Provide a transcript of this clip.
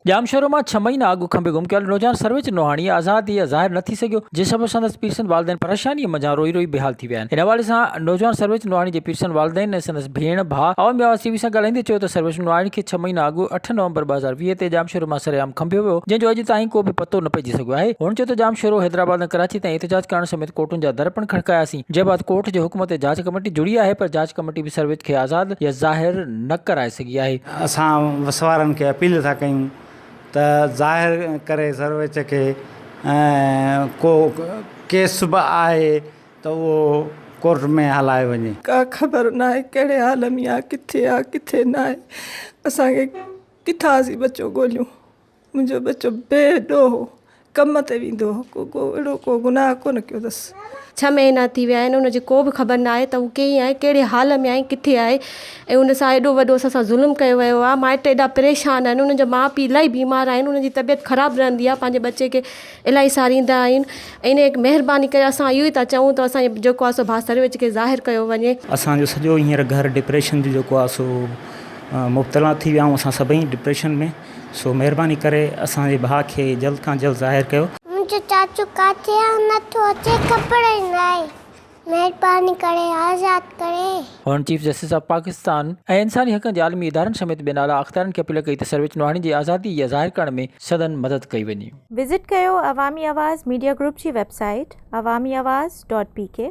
ڄام شهرو مان ڇهه مهينا اڳ کنڀي گم ڪيل نوجوان سرويچ نوحاڻي آزاد هي ظاهر نه ٿي سگهيو جنهن سبب سندس پيرسن والدين پريشاني منجهان روئي روئي بيحال ٿي ويا آهن ان حوالي سان نوجوان سرويچ نوحاڻي جي پيرسن والدين ۽ سندس ڀيڻ ڀاء عوامي آواز ٽي وي سان ڳالهائيندي چيو ته سرويچ نوحاڻي کي ڇهه مهينا اڳ اٺ نومبر ٻه هزار ويهه تي ڄام شهرو مان سرعام کنڀيو ويو جنهن جو اڄ تائين ڪو به پتو نه پئجي سگهيو آهي هن چيو ته ڄام شهرو حيدرآباد ۽ ڪراچي تائين احتجاج ڪرڻ سميت ڪورٽن جا در پڻ کڙڪاياسين جنهن بعد ڪورٽ جي حڪم تي جاچ ڪميٽي جڙي آهي پر جاچ ڪميٽي به سرويچ کي آزاد يا ظاهر نه ڪرائي سگهي آهي. اسان وسوارن کي اپيل ٿا ڪيون ته ظاهر ڪري سرويچ کي ۽ ڪو ڪيس به آهي ته اهو ڪورٽ ۾ هلايو وڃي. ڪا خبر ناهي ڪهڙي حال ۾ آ ڪٿي آ ڪٿي ناهي اسان کي ڪٿان اسين ٻچو ڳوليون. منهنجو ٻچو بي ڏوهه هو ڪم تي ويندو هو ڪو ڪو اهڙو ڪو گناهه ڪونه ڪيو اٿس. ڇهه مهينا ٿي ويا آهن ان جي ڪو به خبر نه آهي ته هو ڪئين آهي ڪهڙي حال ۾ آهي ڪٿي آهي ۽ ان سان ايڏو وڏو اسان سان ظلم ڪيو ويو آهي مائٽ ايڏا پريشان آهن انهن جا ماء پي الاهي بيمار آهن انهن جي طبيعت خراب رهندي آهي پنهنجي ٻچي کي الاهي ساريندا آهن ۽ ان مهرباني ڪري اسان اهو ئي ٿا چئون ته اسان جو جيڪو آهي سو ڀا سرويچ کي ظاهر ڪيو وڃي. اسان جو سڄو هينئر گهر ڊپريشن جو جيڪو آهي سو مبتلا ٿي ويا آهيون اسان سڀئي ڊپريشن ۾ سو مهرباني ڪري اسان جي ڀاء کي جلد کان جلد ظاهر ڪيو. منهنجو چاچو ڪاٿي آ نٿو اچي خبر ئي ناهي مهرباني ڪري آزاد ڪري. هن چيف جسٽس آف پاڪستان ۽ انساني حقن جي عالمي ادارن سميت بين اعليٰ اختيارين کي اپيل ڪئي ته سرويچ نوحاڻي جي آزادي يا ظاهر ڪرڻ ۾ سندن مدد ڪئي وڃي. وزٽ ڪيو عوامي آواز ميڊيا گروپ جي website Awami Awaz dot P ڪي.